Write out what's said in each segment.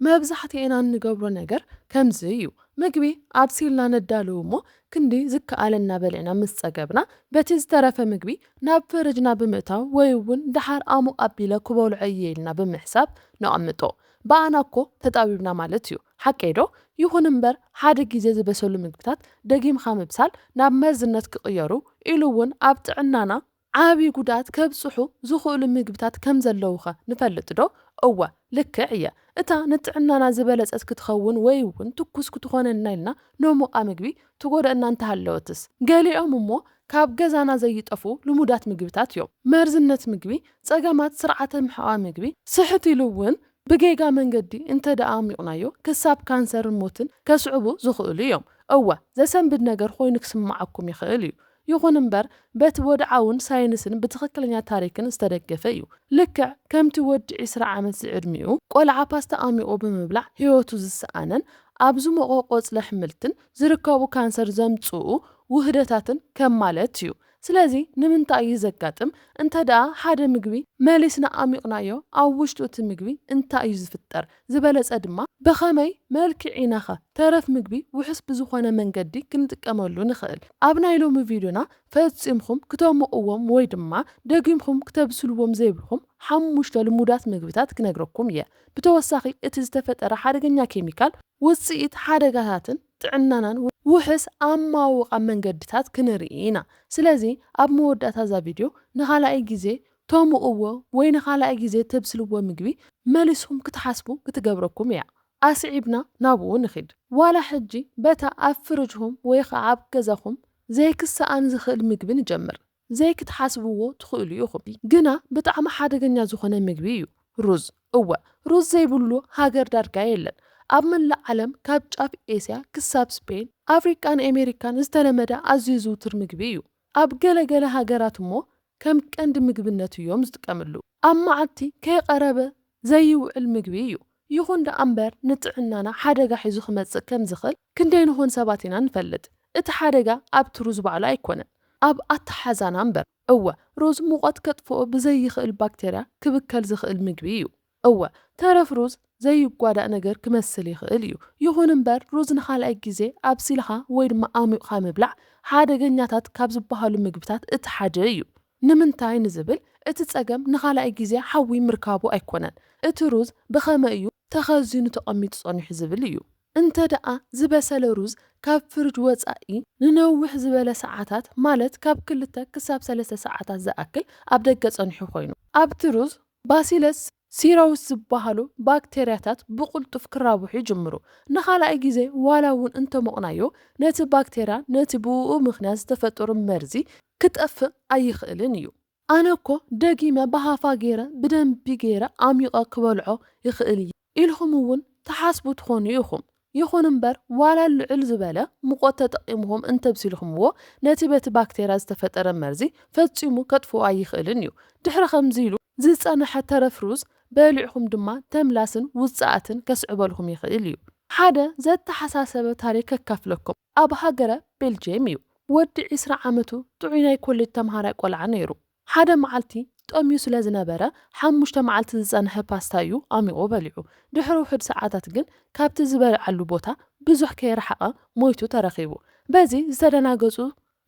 መብዛሕትኤና እንገብሮ ነገር ከምዚ እዩ ምግቢ ኣብሲልና ነዳሉ እሞ ክንዲ ዝከኣለና በሊዕና ምስ ጸገብና በቲ ዝተረፈ ምግቢ ናብ ፍርጅና ብምእታው ወይ ውን ደሓር ኣሙቕ ኣቢለ ክበልዖ እየ ኢልና ብምሕሳብ ነቐምጦ ብኣና እኮ ተጣቢብና ማለት እዩ ሓቀይ ዶ ይኹን እምበር ሓደ ግዜ ዝበሰሉ ምግብታት ደጊምካ ምብሳል ናብ መርዝነት ክቕየሩ ኢሉ ውን ኣብ ጥዕናና ዓቢ ጉድኣት ከብጽሑ ዝኽእሉ ምግብታት ከም ዘለዉኸ ንፈልጥዶ? እወ፣ ልክዕ እየ። እታ ንጥዕናና ዝበለጸት ክትኸውን ወይ'ውን ትኩስ ክትኾነና ኢልና ነሞቓ ምግቢ ትጎድኣና እንተሃለወትስ? ገሊኦም እሞ ካብ ገዛና ዘይጠፍኡ ልሙዳት ምግብታት እዮም። መርዝነት ምግቢ፣ ጸገማት ስርዓተ ምሕቓቕ ምግቢ፣ ስሕት ኢሉ'ውን ብጌጋ መንገዲ እንተድኣ ኣሚቑናዮ ክሳብ ካንሰርን ሞትን ከስዕቡ ዝኽእሉ እዮም። እወ፣ ዘሰንብድ ነገር ኮይኑ ክስምዓኩም ይኽእል እዩ። ይኹን እምበር በቲ ወድዓውን ሳይንስን ብትኽክለኛ ታሪክን ዝተደገፈ እዩ። ልክዕ ከምቲ ወዲ ዕስራ ዓመት ዝዕድሚኡ ቆልዓ ፓስታ ኣሚቑ ብምብላዕ ህይወቱ ዝሰኣነን ኣብ ዝሞቐ ቆፅሊ ኣሕምልትን ዝርከቡ ካንሰር ዘምፅኡ ውህደታትን ከም ማለት እዩ። ስለዚ ንምንታይ እዩ ዘጋጥም? እንተድኣ ሓደ ምግቢ መሊስና ኣሚቑናዮ ኣብ ውሽጡ እቲ ምግቢ እንታይ እዩ ዝፍጠር? ዝበለጸ ድማ ብኸመይ መልክዕ ኢናኸ ተረፍ ምግቢ ውሑስ ብዝኾነ መንገዲ ክንጥቀመሉ ንኽእል? ኣብ ናይ ሎሚ ቪድዮና ፈጺምኩም ክተሞቕዎም ወይ ድማ ደጊምኩም ክተብስልዎም ዘይብልኩም ሓሙሽተ ልሙዳት ምግብታት ክነግረኩም እየ። ብተወሳኺ እቲ ዝተፈጠረ ሓደገኛ ኬሚካል ውጽኢት ሓደጋታትን ጥዕናናን ውሑስ ኣማውቓ መንገድታት ክንርኢ ኢና። ስለዚ ኣብ መወዳእታ እዛ ቪድዮ ንኻልኣይ ግዜ ቶሙ እዎ ወይ ንካላኣይ ግዜ ተብስልዎ ምግቢ መሊስኩም ክትሓስቡ ክትገብረኩም እያ ኣስዒብና ናቡኡ ንኪድ ዋላ ሕጂ በታ ኣብ ፍርጅኩም ወይ ከኣ ኣብ ገዛኩም ዘይክሳኣን ዝክእል ምግቢ ንጀምር ዘይክትሓስብዎ ትክእሉ ኢኩም ግና ብጣዕሚ ሓደገኛ ዝኮነ ምግቢ እዩ ሩዝ እወ ሩዝ ዘይብሉ ሃገር ዳርጋ የለን ኣብ መላእ ዓለም ካብ ጫፍ ኤስያ ክሳብ ስፔን ኣፍሪቃን ኤሜሪካን ዝተለመደ ኣዝዩ ዝውቱር ምግቢ እዩ ኣብ ገለ ገለ ሃገራት እሞ ከም ቀንዲ ምግብነቱ እዮም ዝጥቀምሉ። ኣብ መዓልቲ ከይቐረበ ዘይውዕል ምግቢ እዩ። ይኹን ደኣ እምበር ንጥዕናና ሓደጋ ሒዙ ክመጽእ ከም ዝኽእል ክንደይ ንኾን ሰባት ኢና ንፈልጥ። እቲ ሓደጋ ኣብቲ ሩዝ ባዕሉ ኣይኮነን። ኣብ ኣተሓሕዛና እምበር። እወ ሩዝ ሙቐት ከጥፍኦ ብዘይኽእል ባክተርያ ክብከል ዝኽእል ምግቢ እዩ። እወ፣ ተረፍ ሩዝ ዘይጓዳእ ነገር ክመስል ይኽእል እዩ። ይኹን እምበር፣ ሩዝ ንኻልኣይ ግዜ ኣብሲልኻ ወይ ድማ ኣሙቕኻ ምብላዕ ሓደገኛታት ካብ ዝበሃሉ ምግብታት እቲ ሓደ እዩ። ንምንታይ ንዝብል፣ እቲ ጸገም ንኻልኣይ ግዜ ሓዊ ምርካቡ ኣይኮነን፣ እቲ ሩዝ ብኸመይ እዩ ተኸዚኑ ተቐሚጡ ጸኒሑ ዝብል እዩ። እንተድኣ ዝበሰለ ሩዝ ካብ ፍርጅ ወጻኢ ንነውሕ ዝበለ ሰዓታት፣ ማለት ካብ ክልተ ክሳብ ሰለስተ ሰዓታት ዝኣክል ኣብ ደገ ጸኒሑ ኮይኑ፣ ኣብቲ ሩዝ ባሲለስ ሲረውስ ዝበሃሉ ባክተርያታት ብቕልጡፍ ክራብሑ ይጅምሩ። ንኻልኣይ ግዜ ዋላ እውን እንተሞቕናዮ፣ ነቲ ባክተርያ ነቲ ብእኡ ምኽንያት ዝተፈጠሩ መርዚ ክጠፍእ ኣይኽእልን እዩ። ኣነ እኮ ደጊመ ብሃፋ ገይረ ብደንቢ ገይረ ኣሚቐ ክበልዖ ይኽእል እየ። ኢልኹም እውን ትሓስቡ ትኾኑ ኢኹም። ይኹን እምበር ዋላ ልዕል ዝበለ ሙቐት ተጠቒምኹም እንተብሲልኩምዎ ነቲ በቲ ባክቴርያ ዝተፈጠረ መርዚ ፈፂሙ ከጥፍኦ ኣይኽእልን እዩ። ድሕሪ ከምዚ ኢሉ ዝፀነሐ ተረፍ ሩዝ በሊዕኹም ድማ ተምላስን ውፅኣትን ከስዕበልኩም ይኽእል እዩ። ሓደ ዘተሓሳሰበ ታሪክ ከካፍለኩም። ኣብ ሃገረ ቤልጅየም እዩ። ወዲ ዕስራ ዓመቱ ጥዑይ ናይ ኮሌጅ ተምሃራይ ቆልዓ ነይሩ። ሓደ መዓልቲ ጠምዩ ስለ ዝነበረ ሓሙሽተ መዓልቲ ዝጸንሐ ፓስታ እዩ ኣሚቑ በሊዑ። ድሕሪ ውሑድ ሰዓታት ግን ካብቲ ዝበልዓሉ ቦታ ብዙሕ ከይረሓቐ ሞይቱ ተረኺቡ። በዚ ዝተደናገጹ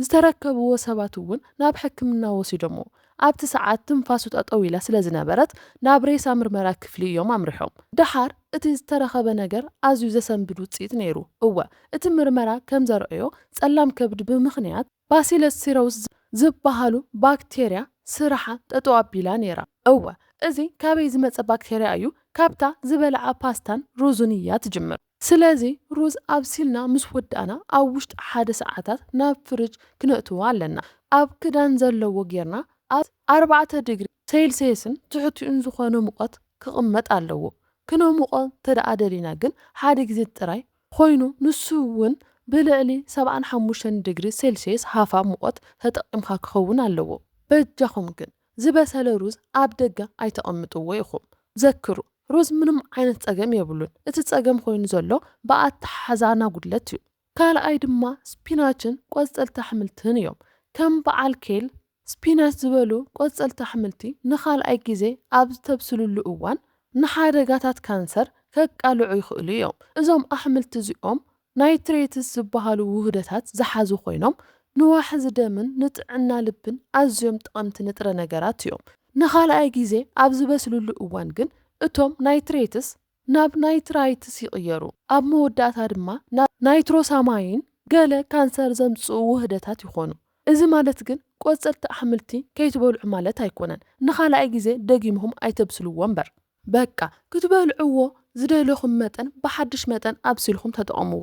ዝተረከብዎ ሰባት'ውን ናብ ሕክምና ወሲዶምዎ። ኣብቲ ሰዓት ትንፋሱ ጠጠው ኢላ ስለ ዝነበረት ናብ ሬሳ ምርመራ ክፍሊ እዮም ኣምሪሖም። ደሓር እቲ ዝተረኸበ ነገር ኣዝዩ ዘሰንብድ ውጽኢት ነይሩ። እወ እቲ ምርመራ ከም ዘርኣዮ ጸላም ከብዲ ብምኽንያት። ባሲለስ ሲረውስ ዝብሃሉ ባክቴርያ ስራሓ ጠጠው ኣቢላ ነይራ። እወ እዚ ካበይ ዝመጸ ባክቴርያ እዩ? ካብታ ዝበልዓ ፓስታን ሩዝን እያ ትጅምር። ስለዚ ሩዝ ኣብሲልና ምስ ወዳእና ኣብ ውሽጢ ሓደ ሰዓታት ናብ ፍርጅ ክነእትዎ ኣለና። ኣብ ክዳን ዘለዎ ጌርና ኣብ ኣርባዕተ ድግሪ ሰይልሰየስን ትሕቲኡን ዝኾነ ሙቐት ክቕመጥ ኣለዎ። ክነሙቖ እንተደኣ ደሊና ግን ሓደ ግዜ ጥራይ ኾይኑ ንሱ እውን ብልዕሊ ሰብዓን ሓሙሽተን ድግሪ ሴልሽየስ ሃፋ ሙቐት ተጠቒምካ ክኸውን ኣለዎ። በጃኹም ግን ዝበሰለ ሩዝ ኣብ ደገ ኣይተቐምጥዎ ኢኹም። ዘክሩ ሩዝ ምንም ዓይነት ፀገም የብሉን። እቲ ፀገም ኾይኑ ዘሎ ብኣተሓሕዛና ጉድለት እዩ። ካልኣይ ድማ ስፒናችን ቆፀልቲ ኣሕምልትን እዮም። ከም በዓል ኬል፣ ስፒናች ዝበሉ ቆጸልቲ ኣሕምልቲ ንኻልኣይ ግዜ ኣብ ዝተብስልሉ እዋን ንሓደጋታት ካንሰር ከቃልዑ ይኽእሉ እዮም። እዞም ኣሕምልቲ እዚኦም ናይትሬትስ ዝበሃሉ ውህደታት ዝሓዙ ኮይኖም፣ ንዋሕዚ ደምን ንጥዕና ልብን ኣዝዮም ጠቐምቲ ንጥረ ነገራት እዮም። ንኻልኣይ ግዜ ኣብ ዝበስልሉ እዋን ግን እቶም ናይትሬትስ ናብ ናይትራይትስ ይቕየሩ፣ ኣብ መወዳእታ ድማ ናብ ናይትሮሳማይን ገለ ካንሰር ዘምጽኡ ውህደታት ይኾኑ። እዚ ማለት ግን ቆጸልቲ ኣሕምልቲ ከይትበልዑ ማለት ኣይኮነን፣ ንኻልኣይ ግዜ ደጊምኩም ኣይተብስልዎ እምበር። በቃ ክትበልዕዎ ዝደለኹም መጠን ብሓድሽ መጠን ኣብሲልኩም ተጠቐምዎ።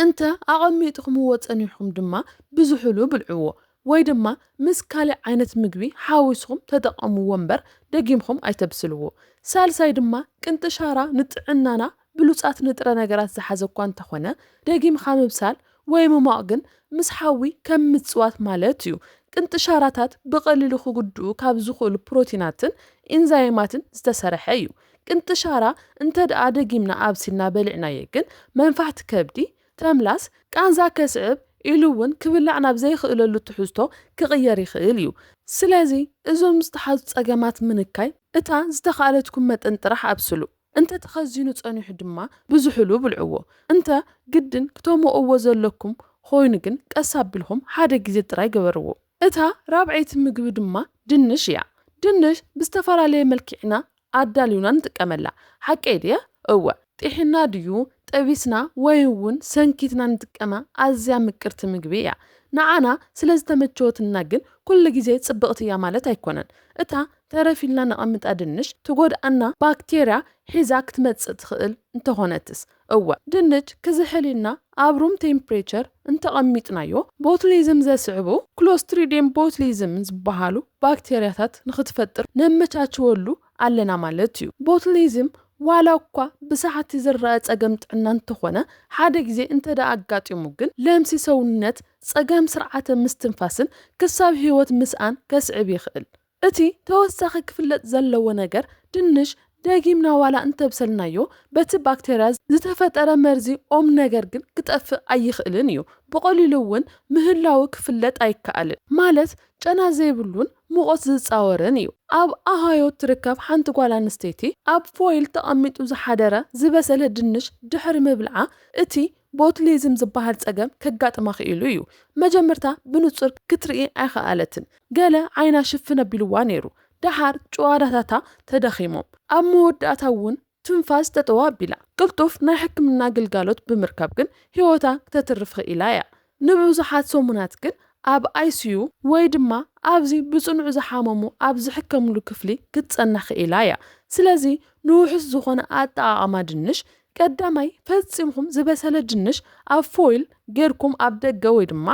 እንተ ኣቐሚጥኹምዎ ጸኒሕኩም ድማ ብዝሑሉ ብልዕዎ ወይ ድማ ምስ ካልእ ዓይነት ምግቢ ሓዊስኹም ተጠቐምዎ እምበር ደጊምኩም ኣይተብስልዎ። ሳልሳይ ድማ ቅንጥሻራ ንጥዕናና ብሉጻት ንጥረ ነገራት ዝሓዘ እኳ እንተኾነ ደጊምካ ምብሳል ወይ ምሟቕ ግን ምስ ሓዊ ከም ምጽዋት ማለት እዩ። ቅንጥሻራታት ብቐሊሉ ክጉድኡ ካብ ዝኽእሉ ፕሮቲናትን ኢንዛይማትን ዝተሰርሐ እዩ። ቅንጥሻራ እንተድኣ ደጊምና ኣብሲልና በሊዕናዮ ግን መንፋሕቲ ከብዲ፣ ተምላስ፣ ቃንዛ ከስዕብ ኢሉ እውን ክብላዕ ናብ ዘይኽእለሉ ትሕዝቶ ክቕየር ይኽእል እዩ። ስለዚ እዞም ዝተሓዙ ፀገማት ምንካይ እታ ዝተኽኣለትኩም መጠን ጥራሕ ኣብስሉ። እንተ ተኸዚኑ ፀኒሑ ድማ ብዝሑሉ ብልዕዎ። እንተ ግድን ክተሞቕዎ ዘለኩም ኾይኑ ግን ቀስ ኣቢልኹም ሓደ ግዜ ጥራይ ግበርዎ። እታ ራብዐይቲ ምግቢ ድማ ድንሽ እያ። ድንሽ ብዝተፈላለየ መልኪዕና ኣዳሊውና ንጥቀመላ። ሓቀይ ድየ? እወ። ጢሒና ድዩ፣ ጠቢስና ወይ'ውን ሰንኪትና ንጥቀማ ኣዝያ ምቅርቲ ምግቢ እያ። ንዓና ስለዝተመቸወትና ግን ኩሉ ግዜ ጽብቕቲ እያ ማለት ኣይኮነን። እታ ተረፍ ኢልና ነቐምጣ ድንሽ ትጎድኣና ባክቴርያ ሒዛ ክትመጽእ ትኽእል እንተኾነትስ? እወ፣ ድንች ክዝሕል ኢልና ኣብ ሩም ቴምፕሬቸር እንተቐሚጥናዮ፣ ቦቱሊዝም ዘስዕቡ ክሎስትሪድየም ቦቱሊዝም ዝበሃሉ ባክቴርያታት ንኽትፈጥር ነመቻችወሉ ኣለና ማለት እዩ። ቦቱሊዝም ዋላ እኳ ብሰዓቲ ዝረኣ ጸገም ጥዕና እንተኾነ፣ ሓደ ግዜ እንተድኣ ኣጋጢሙ ግን ለምሲ ሰውነት፣ ጸገም ስርዓተ ምስትንፋስን ክሳብ ህይወት ምስኣን ከስዕብ ይኽእል። እቲ ተወሳኺ ክፍለጥ ዘለዎ ነገር ድንሽ ደጊምና ዋላ እንተብሰልናዮ በቲ ባክተርያ ዝተፈጠረ መርዚ ኦም ነገር ግን ክጠፍእ ኣይኽእልን እዩ። ብቐሊሉ እውን ምህላዉ ክፍለጥ ኣይከኣልን። ማለት ጨና ዘይብሉን ሙቐት ዝጻወርን እዩ። ኣብ ኣሃዮ እትርከብ ሓንቲ ጓል ኣንስተይቲ ኣብ ፎይል ተቐሚጡ ዝሓደረ ዝበሰለ ድንሽ ድሕሪ ምብልዓ እቲ ቦቱሊዝም ዝበሃል ጸገም ከጋጥማ ክኢሉ እዩ። መጀመርታ ብንጹር ክትርኢ ኣይኸኣለትን፣ ገለ ዓይና ሽፍን ኣቢሉዋ ነይሩ። ደሓር ጭዋዳታታ ተዳኺሞም፣ ኣብ መወዳእታ እውን ትንፋስ ጠጠው ኣቢላ። ቅልጡፍ ናይ ሕክምና ግልጋሎት ብምርካብ ግን ህይወታ ክተትርፍ ክኢላ እያ። ንብዙሓት ሰሙናት ግን ኣብ ኣይሲዩ ወይ ድማ ኣብዚ ብጽኑዕ ዝሓመሙ ኣብ ዝሕከምሉ ክፍሊ ክትጸንሕ ክኢላ እያ። ስለዚ ንውሑስ ዝኾነ ኣጠቓቕማ ድንሽ ቀዳማይ፣ ፈጺምኩም ዝበሰለ ድንሽ ኣብ ፎይል ጌርኩም ኣብ ደገ ወይ ድማ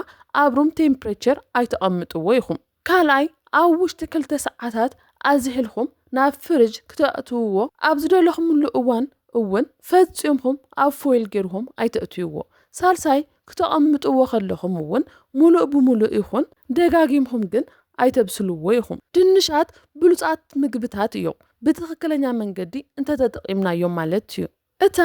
ኣብ ሩም ቴምፕሬቸር ኣይተቐምጥዎ ኢኹም። ካልኣይ፣ ኣብ ውሽጢ ክልተ ሰዓታት ኣዚሒልኩም ናብ ፍርጅ ክተእትውዎ ኣብ ዝደለኹምሉ እዋን እውን ፈጺምኩም ኣብ ፎይል ጌርኩም ኣይተእትውዎ። ሳልሳይ፣ ክተቐምጥዎ ከለኹም እውን ሙሉእ ብሙሉእ ይኹን ደጋጊምኹም ግን ኣይተብስልዎ ኢኹም። ድንሻት ብሉፃት ምግብታት እዮም ብትኽክለኛ መንገዲ እንተተጠቒምናዮም ማለት እዩ። እታ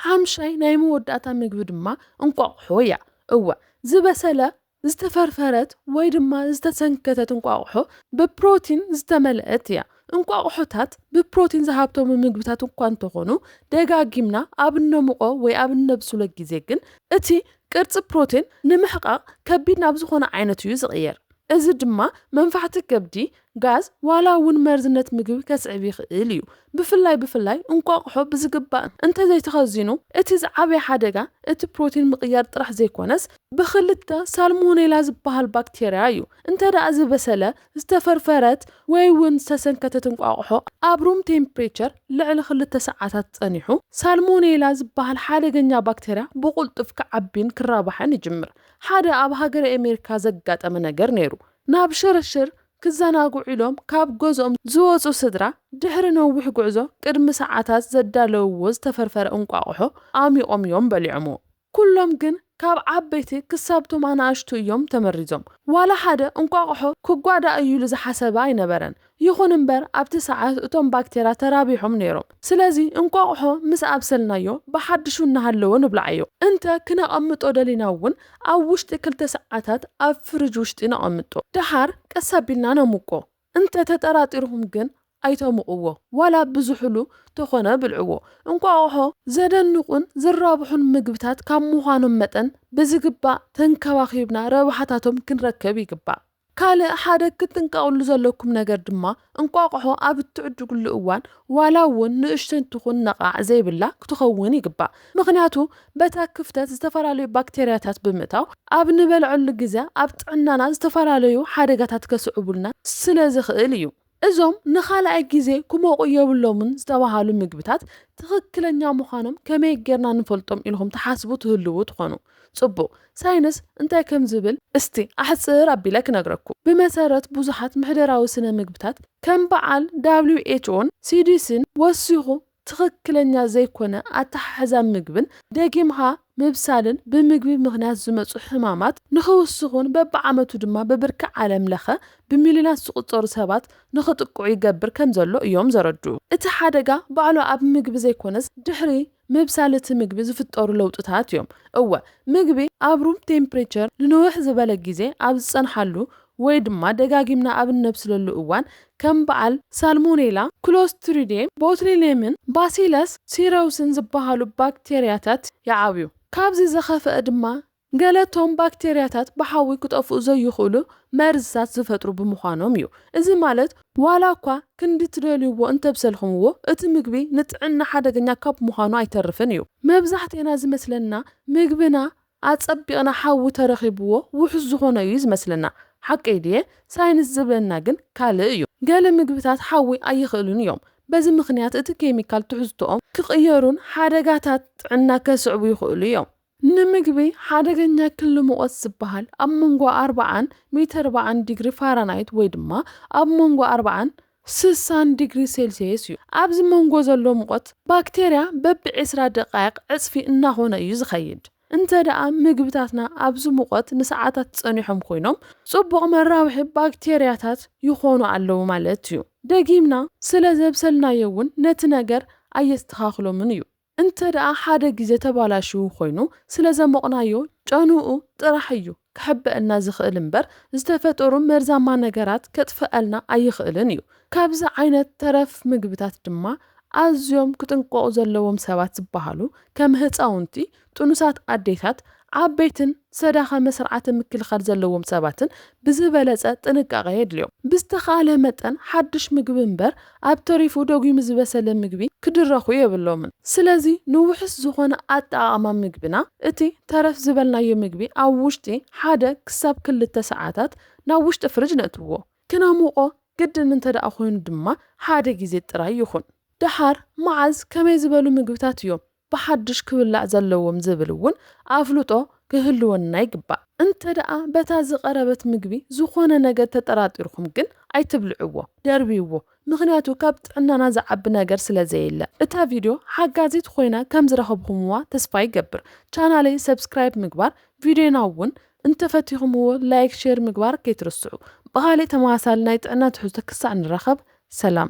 ሓምሻይ ናይ መወዳእታ ምግቢ ድማ እንቋቑሖ እያ። እወ ዝበሰለ፣ ዝተፈርፈረት ወይ ድማ ዝተሰንከተት እንቋቑሖ ብፕሮቲን ዝተመልአት እያ። እንቋቑሖታት ብፕሮቲን ዝሃብተሙ ምግብታት እኳ እንተኾኑ፣ ደጋጊምና ኣብ እነሙቖ ወይ ኣብ እነብስሎ ግዜ ግን እቲ ቅርጺ ፕሮቲን ንምሕቃቕ ከቢድ ናብ ዝኾነ ዓይነት እዩ ዝቕየር። እዚ ድማ መንፋሕቲ ከብዲ፣ ጋዝ፣ ዋላ እውን መርዝነት ምግቢ ከስዕብ ይኽእል እዩ። ብፍላይ ብፍላይ እንቋቑሖ ብዝግባእ እንተዘይተኸዚኑ እቲ ዝዓበየ ሓደጋ እቲ ፕሮቲን ምቕያር ጥራሕ ዘይኮነስ ብክልተ ሳልሞኔላ ዝበሃል ባክቴርያ እዩ እንተድኣ ዝበሰለ ዝተፈርፈረት ወይ ውን ዝተሰንከተት እንቋቑሖ ኣብ ሩም ቴምፕሬቸር ልዕሊ ክልተ ሰዓታት ጸኒሑ፣ ሳልሞኔላ ዝበሃል ሓደገኛ ባክተርያ ብቕልጡፍ ክዓቢን ክራባሕን ይጅምር። ሓደ ኣብ ሃገረ ኤሜሪካ ዘጋጠመ ነገር ነይሩ። ናብ ሽርሽር ክዘናግዑ ኢሎም ካብ ገዝኦም ዝወጹ ስድራ፣ ድሕሪ ነዊሕ ጉዕዞ ቅድሚ ሰዓታት ዘዳለውዎ ዝተፈርፈረ እንቋቑሖ ኣሚቖም እዮም በሊዖምዎ። ኩሎም ግን ካብ ዓበይቲ ክሳብ ቶም ኣናእሽቱ እዮም ተመሪዞም። ዋላ ሓደ እንቋቑሖ ክጓዳእ እዩ ኢሉ ዝሓሰበ ኣይነበረን። ይኹን እምበር ኣብቲ ሰዓት እቶም ባክቴርያ ተራቢሖም ነይሮም። ስለዚ እንቋቑሖ ምስ ኣብሰልናዮ ብሓድሹ እናሃለወ ንብልዓዮ። እንተ ክነቐምጦ ደሊና እውን ኣብ ውሽጢ ክልተ ሰዓታት ኣብ ፍርጅ ውሽጢ ነቐምጦ። ደሓር ቀስ ኣቢልና ነሙቆ። እንተ ተጠራጢርኩም ግን ኣይተሙቕዎ ዋላ ብዝሑሉ ተኾነ ብልዕዎ። እንቋቑሖ ዘደንቑን ዝራብሑን ምግብታት ካብ ምዃኖም መጠን ብዝግባእ ተንከባኺብና ረብሓታቶም ክንረክብ ይግባእ። ካልእ ሓደ ክትጥንቀቕሉ ዘለኩም ነገር ድማ እንቋቑሖ ኣብ እትዕድጉሉ እዋን ዋላ እውን ንእሽተይ ትኹን ነቓዕ ዘይብላ ክትኸውን ይግባእ። ምኽንያቱ በታ ክፍተት ዝተፈላለዩ ባክተርያታት ብምእታው ኣብ ንበልዐሉ ግዘ ኣብ ጥዕናና ዝተፈላለዩ ሓደጋታት ከስዕቡልና ስለ ዝኽእል እዩ። እዞም ንኻልኣይ ግዜ ክሞቑ የብሎምን ዝተባሃሉ ምግብታት ትኽክለኛ ምዃኖም ከመይ ጌርና ንፈልጦም ኢልኹም ትሓስቡ ትህልዉ ትኾኑ። ፅቡቕ፣ ሳይንስ እንታይ ከም ዝብል እስቲ ኣሕፅር ኣቢለ ክነግረኩም። ብመሰረት ብዙሓት ምሕደራዊ ስነ ምግብታት ከም በዓል WHOን CDCን ወሲኹ ትኽክለኛ ዘይኮነ ኣተሓሕዛ ምግብን ደጊምኻ ምብሳልን ብምግቢ ምኽንያት ዝመፁ ሕማማት ንኽውስኹን በቢዓመቱ ድማ ብብርኪ ዓለም ለኸ ብሚልዮናት ዝቑፀሩ ሰባት ንኽጥቅዑ ይገብር ከምዘሎ እዮም ዘረድኡ። እቲ ሓደጋ ባዕሉ ኣብ ምግቢ ዘይኮነስ ድሕሪ ምብሳል እቲ ምግቢ ዝፍጠሩ ለውጥታት እዮም። እወ ምግቢ ኣብ ሩም ቴምፕሬቸር ንንውሕ ዝበለ ጊዜ ኣብ ዝፀንሓሉ ወይ ድማ ደጋጊምና ኣብ እነብስለሉ እዋን ከም በዓል ሳልሞኔላ፣ ክሎስትሪዴም ቦቱሊኔምን ባሲለስ ሲረውስን ዝበሃሉ ባክቴርያታት ይዓብዩ። ካብዚ ዝኸፈኣ ድማ ገለ እቶም ባክቴርያታት ብሓዊ ክጠፍኡ ዘይኽእሉ መርዝታት ዝፈጥሩ ብምዃኖም እዩ። እዚ ማለት ዋላ እኳ ክንዲ ትደልዩዎ እንተብሰልክምዎ እቲ ምግቢ ንጥዕና ሓደገኛ ካብ ምዃኑ ኣይተርፍን እዩ። መብዛሕቴና ዝመስለና ምግብና ኣጸቢቕና ሓዊ ተረኺብዎ ውሑስ ዝኾነ እዩ ዝመስለና። ሓቀይ ድየ? ሳይንስ ዝብለና ግን ካልእ እዩ። ገለ ምግብታት ሓዊ ኣይኽእሉን እዮም። በዚ ምኽንያት እቲ ኬሚካል ትሕዝቶኦም ክቕየሩን ሓደጋታት ጥዕና ከስዕቡ ይኽእሉ እዮም። ንምግቢ ሓደገኛ ክሊ ሙቐት ዝበሃል ኣብ መንጎ ኣርብዓን ሚተርብዓን ዲግሪ ፋራናይት ወይ ድማ ኣብ መንጎ ኣርብዓን ስሳን ዲግሪ ሴልስየስ እዩ። ኣብዚ መንጎ ዘሎ ሙቐት ባክቴርያ በቢ ዕስራ ደቓይቕ ዕጽፊ እናኾነ እዩ ዝኸይድ። እንተደኣ ምግብታትና ኣብዚ ሙቐት ንሰዓታት ጸኒሖም ኮይኖም፣ ጽቡቕ መራብሒ ባክቴርያታት ይኾኑ ኣለዉ ማለት እዩ። ደጊምና ስለ ዘብሰልናዮ እውን ነቲ ነገር ኣየስተኻኽሎምን እዩ። እንተደኣ ሓደ ግዜ ተባላሽዉ ኮይኑ ስለዘሞቕናዮ ጨንኡ ጥራሕ እዩ ክሕበእና ዝኽእል እምበር ዝተፈጠሩ መርዛማ ነገራት ከጥፈኣልና ኣይኽእልን እዩ። ካብዚ ዓይነት ተረፍ ምግብታት ድማ ኣዝዮም ክጥንቀቑ ዘለዎም ሰባት ዝበሃሉ ከም ህፃዉንቲ፣ ጥኑሳት ኣዴታት፣ ዓበይትን ዝተዳኸመ ስርዓተ ምክልኻል ዘለዎም ሰባትን ብዝበለፀ ጥንቃቐ የድልዮም። ብዝተኽኣለ መጠን ሓዱሽ ምግቢ እምበር ኣብ ተሪፉ ደጒሙ ዝበሰለ ምግቢ ክድረኹ የብሎምን። ስለዚ ንውሑስ ዝኾነ ኣጠቓቕማ ምግብና እቲ ተረፍ ዝበልናዮ ምግቢ ኣብ ውሽጢ ሓደ ክሳብ ክልተ ሰዓታት ናብ ውሽጢ ፍርጅ ነእትዎ። ክነሙቖ ግድን እንተድኣ ኮይኑ ድማ ሓደ ግዜ ጥራይ ይኹን። ድሓር መዓዝ ከመይ ዝበሉ ምግብታት እዮም ብሓድሽ ክብላዕ ዘለዎም ዝብል እውን ኣፍልጦ ክህልወና ይግባእ። እንተደኣ በታ ዝቐረበት ምግቢ ዝኾነ ነገር ተጠራጢርኩም ግን ኣይትብልዕዎ፣ ደርብይዎ፣ ምኽንያቱ ካብ ጥዕናና ዝዓቢ ነገር ስለ ዘየለ። እታ ቪድዮ ሓጋዚት ኾይና ከም ዝረኸብኹምዋ ተስፋ ይገብር። ቻናለይ ሰብስክራይብ ምግባር፣ ቪድዮና እውን እንተፈቲኹምዎ ላይክ ሼር ምግባር ከይትርስዑ። ብኻሊእ ተመሳሳሊ ናይ ጥዕና ትሕዝቶ ክሳዕ ንራኸብ ሰላም።